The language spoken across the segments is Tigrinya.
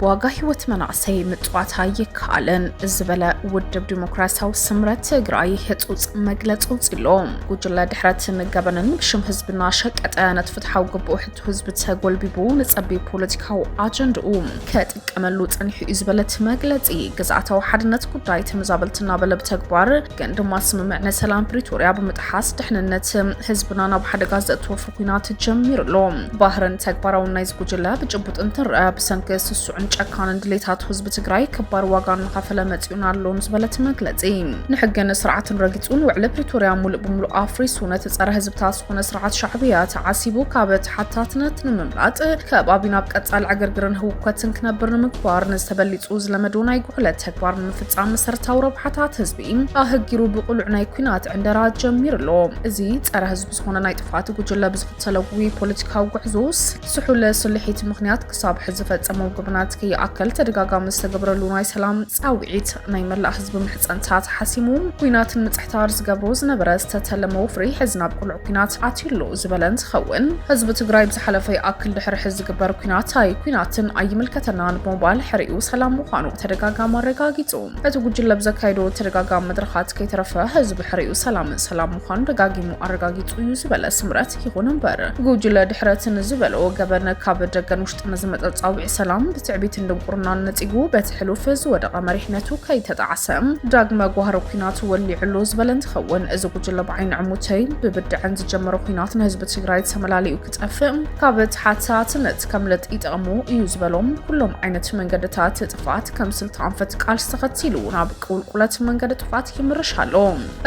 ዋጋ ህይወት መናእሰይ ምፅዋት ኣይከኣልን ዝበለ ውድብ ዲሞክራሲያዊ ስምረት ትግራይ ህፁፅ መግለፂ ውፅሎ ጉጅለ ድሕረት ንገበንን ብሽም ህዝብና ሸቀጠ ነቲ ፍትሓዊ ግብኡ ህዝቢ ተጎልቢቡ ንጸቢብ ፖለቲካዊ ኣጀንድኡ ከጥቀመሉ ጸኒሑ እዩ ዝበለት መግለጺ ግዝኣታዊ ሓድነት ጉዳይ ተመዛበልቲ እናበለ ብተግባር ግን ድማ ስምምዕነ ሰላም ፕሪቶርያ ብምጥሓስ ድሕንነት ህዝብና ናብ ሓደጋ ዘእትወፉ ኩናት ጀሚሩ ኣሎ። ባህርን ተግባራውን ናይዚ ጉጅለ ብጭቡጥ እንትረአ ብሰንኪ ስሱዕን ጨካንን ድሌታት ህዝቢ ትግራይ ክባር ዋጋ እናኸፈለ መጺኡን ኣሎን ዝበለት መግለጺ ንሕግን ስርዓትን ረጊጹን ውዕሊ ፕሪቶርያ ሙሉእ ብምሉእ ኣፍሪሱ ነቲ ጸረ ህዝብታት ዝኾነ ስርዓት ሻዕብያ ተዓሲቡ ካብ ተሓታትነት ንምምላጥ ከባቢና ኣብ ቀጻሊ ዕግርግርን ህውከትን ክነብር ንምግባር ንዝተበሊጹ ዝለመዶ ናይ ጉሕለት ተግባር ንምፍጻም መሰረታዊ ረብሓታት ህዝቢ ኣህጊሩ ብቕሉዕ ናይ ኩናት ዕንደራ ጀሚሩ ኣሎ። እዚ ጸረ ህዝቢ ዝኾነ ናይ ጥፍኣት ጉጅለ ብዝኽተሎ ጉይ ፖለቲካዊ ጉዕዞ ስሑል ስልሒት ምኽንያት ክሳብ ሕዚ ፈጸሙ ግብናት ከይኣከል ተደጋጋሚ ዝተገብረሉ ናይ ሰላም ጻውዒት ናይ መላእ ህዝቢ ምሕጸንታት ሓሲሙ ኩናትን ምጽሕታር ዝገብሮ ዝነበረ ዝተተለመ ወፍሪ ሕዚ ናብ ቁልዕ ኩናት ኣትዩሉ ዝበለ እንትኸውን ህዝቢ ትግራይ ብዝሓለፈ ይኣክል ድሕሪ ሕዚ ዝግበር ኩናት ኣይ ኩናትን ኣይምልከተናን ብምባል ሕሪኡ ሰላም ምዃኑ ተደጋጋሚ ኣረጋጊጹ እቲ ጉጅለ ብዘካይዶ ተደጋጋሚ መድረኻት ከይተረፈ ህዝቢ ሕሪኡ ሰላምን ሰላም ምዃኑ ደጋጊሙ ኣረጋጊጹ እዩ ዝበለ ስምረት ይኹን እምበር ጉጅለ ድሕረት ንዝበሎ ገበን ካብ ደገን ውሽጢ ንዝመፀ ፃውዒ ሰላም ብትዕቢትን ድንቁርናን ነፂጉ በቲ ሕሉፍ ዝወደቐ መሪሕነቱ ከይተጣዕሰ ዳግመ ጓህሪ ኩናት ወሊዕሉ ዝበለ እንትኸውን እዚ ጉጅለ ብዓይኒ ዕሙተይ ብብድዐን ዝጀመረ ኩናት ንህዝቢ ትግራይ ተመላሊኡ ክጠፍእ ካብ ተሓታትነት ከምልጥ ይጠቕሙ እዩ ዝበሎም ኩሎም ዓይነት መንገድታት ጥፍኣት ከም ስልቲ ኣንፈት ቃልሲ ተኸቲሉ ናብ ቁልቁለት መንገዲ ጥፍኣት ይምርሽ ኣሎ።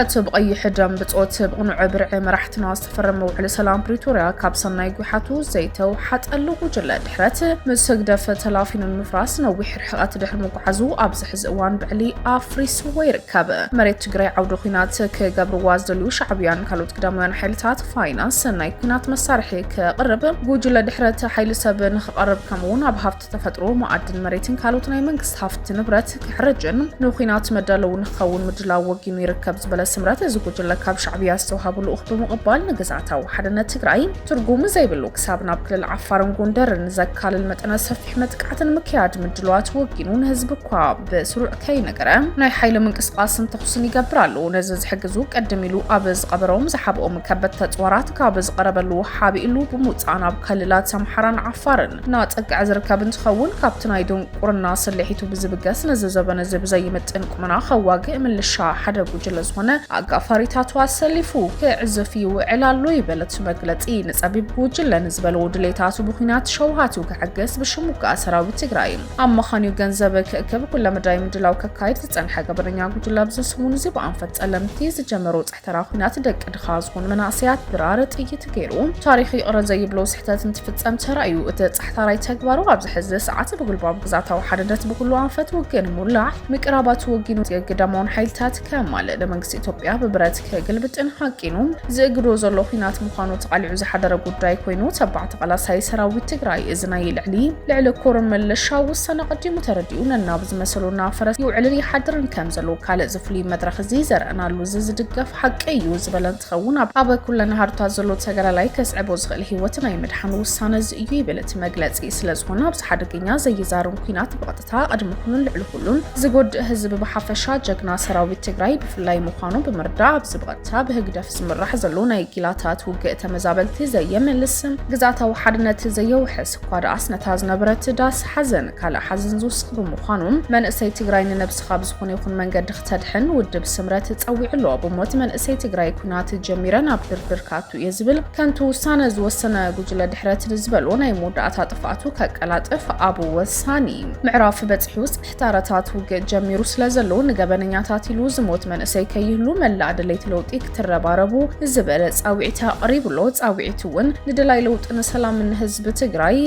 እቲ ብቐይሕ ደም ብጾት ብቕኑዕ ብርዒ መራሕትና ዝተፈረመ ውዕሊ ሰላም ፕሪቶርያ ካብ ሰናይ ጒሓቱ ዘይተውሓጠሉ ጉጅለ ድሕረት ምስ ህግደፍ ተላፊኑ ንምፍራስ ነዊሕ ርሕቐት ድሕሪ ምጓዓዙ ኣብዚ ሕዚ እዋን ብዕሊ ኣፍሪስዎ ይርከብ። መሬት ትግራይ ዓውደ ኲናት ክገብርዋ ዝደልዩ ሻዕብያን ካልኦት ግዳማውያን ሓይልታት ፋይናንስ ናይ ኲናት መሳርሒ ክቕርብ ጉጅለ ድሕረት ሓይሊ ሰብ ንክቐርብ ከምኡውን ኣብ ሃፍቲ ተፈጥሮ፣ መኣድን መሬትን ካልኦት ናይ መንግስቲ ሃፍቲ ንብረት ክሕረጅን ንኩናት መዳለዊ ንክኸውን ምድላው ወጊኑ ይርከብ ዝበለ ስምረት፣ እዚ ጉጅለ ካብ ሻዕብያ ዝተውሃቡ ልኡኽ ብምቕባል ንግዝኣታዊ ሓድነት ትግራይ ትርጉም ዘይብሉ ክሳብ ናብ ክልል ዓፋርን ጎንደርን ዘካልል መጠነ ሰፊሕ መጥቃዕቲ ንምክያድ ምድለዋት ወጊኑ ንህዝቢ እኳ ብስሩዕ ከይነገረ ናይ ሓይሊ ምንቅስቓስን ተኹስን ይገብር ኣሎ። ነዚ ዝሕግዙ ቅድም ኢሉ ኣብ ዝቐበሮም ዝሓብኦም ከበድቲ ኣፅዋራት ካብ ዝቐረበሉ ሓቢእሉ ብምውፃእ ናብ ክልላት ኣምሓራን ዓፋርን እናጸግዐ ዝርከብ እንትኸውን ካብቲ ናይ ድንቁርና ስልሒቱ ብዝብገስ ነዚ ዘበን እዚ ብዘይምጥን ቁመና ከዋግእ ምልሻ ሓደ ጉጅለ ዝኾነ ኣጋፋሪታቱ ኣሰሊፉ ክዕዝፍ ይውዕል ኣሎ ይብል እቲ መግለፂ። ንፀቢብ ጉጅለ ንዝበለዎ ድሌታቱ ብኩናት ሸውሃቱ ከዕግስ ብሽም ውግኣ ሰራዊት ትግራይ ኣመኻንዩ ገንዘብ ክእክብ ኩለመዳይ ምድላው ከካይድ ዝፀንሐ ገበነኛ ጉጅለ ኣብዚ ሰሙን እዚ ብኣንፈት ጸለምቲ ዝጀመሮ ተራ ኩናት ደቂ ድኻ ዝኾኑ መናእሰያት ድራር ጥይት ገይሩ ታሪኽ ይቕረ ዘይብሎ ስሕተት እንትፍጸም ተራእዩ። እቲ ጻሕታራይ ተግባሩ ኣብዚ ሕዚ ሰዓት ብጉልባብ ግዛታዊ ሓድነት ብኩሉ ኣንፈት ውግን ሙላዕ ምቅራባቱ ወጊኑ የግዳማውን ሓይልታት ከማልእ ንመንግስቲ ኢትዮጵያ ብብረት ክግልብጥን ሃቂኑ ዝእግዶ ዘሎ ኩናት ምዃኑ ተቓሊዑ ዝሓደረ ጉዳይ ኮይኑ ተባዕ ተቓላሳይ ሰራዊት ትግራይ እዚ ናይ ልዕሊ ልዕሊ ኮርን መለሻ ውሳነ ቀዲሙ ተረዲኡ ነናብ ዝመሰሉ እናፈረስ ይውዕልን ይሓድርን ከም ዘሎ ካልእ ፍሉይ መድረኽ እዚ ዘርእናሉ እዚ ዝድገፍ ሓቂ እዩ ዝበለ እንትኸውን ኣብ ኩለን ሃሩታት ዘሎ ተጋዳላይ ከስዕቦ ዝኽእል ህይወት ናይ ምድሓን ውሳነ እዚ እዩ ይብል እቲ መግለፂ። ስለዝኾነ ኣብዚ ሓደገኛ ዘይዛሩን ኩናት ብቐጥታ ቅድሚ ኩኑን ልዕሊ ኩሉን ዝጎድእ ህዝቢ ብሓፈሻ ጀግና ሰራዊት ትግራይ ብፍላይ ምዃኑ ብምርዳእ ኣብዚ ብቐጥታ ብህግደፍ ዝምራሕ ዘሎ ናይ ጊላታት ውግእ ተመዛበልቲ ዘየመልስ ግዝኣታዊ ሓድነት ዘየውሕስ እኳ ደኣስ ነታ ዝነበረት ዳስ ሓዘን ካልእ ሓዘን ዝውስኽ ብምዃኑ መንእሰይ ትግራይ ንነብሰ ካብ ዝኾነ ይኹን መንገዲ ክተድሕን ውድብ ስምረት ጸዊዑ ኣሎ። ብሞት መንእሰይ ትግራይ ኩናት ጀሚረ ናብ ድርድር ክኣቱ እየ ዝብል ከንቱ ውሳነ ዝወሰነ ጉጅለ ድሕረት ንዝበሎ ናይ መወዳእታ ጥፍኣቱ ከቀላጥፍ ኣብ ወሳኒ ምዕራፍ በጺሑ ጽሕታረታት ውግእ ጀሚሩ ስለ ዘሎ ንገበነኛታት ኢሉ ዝሞት መንእሰይ ከይህሉ መላእ ደለይቲ ለውጢ ክትረባረቡ ዝበለ ጻዊዒት ኣቕሪቡ ኣሎ። ጻዊዒት እውን ንደላይ ለውጢ ንሰላም ንህዝቢ ትግራይ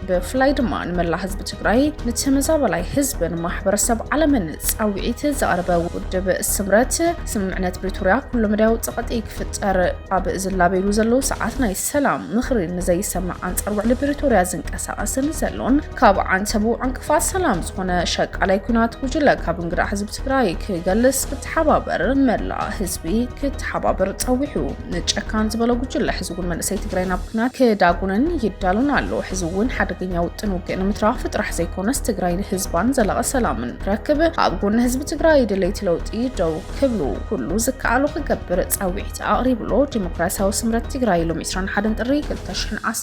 ብፍላይ ድማ ንመላእ ህዝቢ ትግራይ ንተመዛበላይ ህዝብን ማሕበረሰብ ዓለምን ፃውዒት ዘቕርበ ውድብ ስምረት ስምምዕነት ፕሪቶርያ ኩሉ መዳያዊ ፀቕጢ ክፍጠር ኣብ ዝላበይሉ ዘለዉ ሰዓት ናይ ሰላም ምኽሪ ንዘይሰምዕ ኣንፃር ውዕሊ ፕሪቶርያ ዝንቀሳቐስን ዘሎን ካብ ዓንተቡ ዕንቅፋት ሰላም ዝኾነ ሸቃላይ ኩናት ጉጅለ ካብ እንግዳ ህዝቢ ትግራይ ክገልስ ክተሓባበር መላእ ህዝቢ ክተሓባበር ፀዊሑ። ንጨካን ዝበሎ ጉጅለ ሕዚ እውን መንእሰይ ትግራይ ናብ ኩናት ክዳጉነን ይዳሉን ኣሎ። ሕዚ እውን ሓደገኛ ውጥን ውግእ ንምትራፍ ጥራሕ ዘይኮነስ ትግራይ ንህዝባን ዘላቐ ሰላምን ክረክብ ኣብ ጎኒ ህዝቢ ትግራይ ድለይቲ ለውጢ ደው ክብሉ ኩሉ ዝከኣሎ ክገብር ፃዊዒት ኣቕሪብሎ ዲሞክራሲያዊ ስምረት ትግራይ ሎም 21 ጥሪ 2010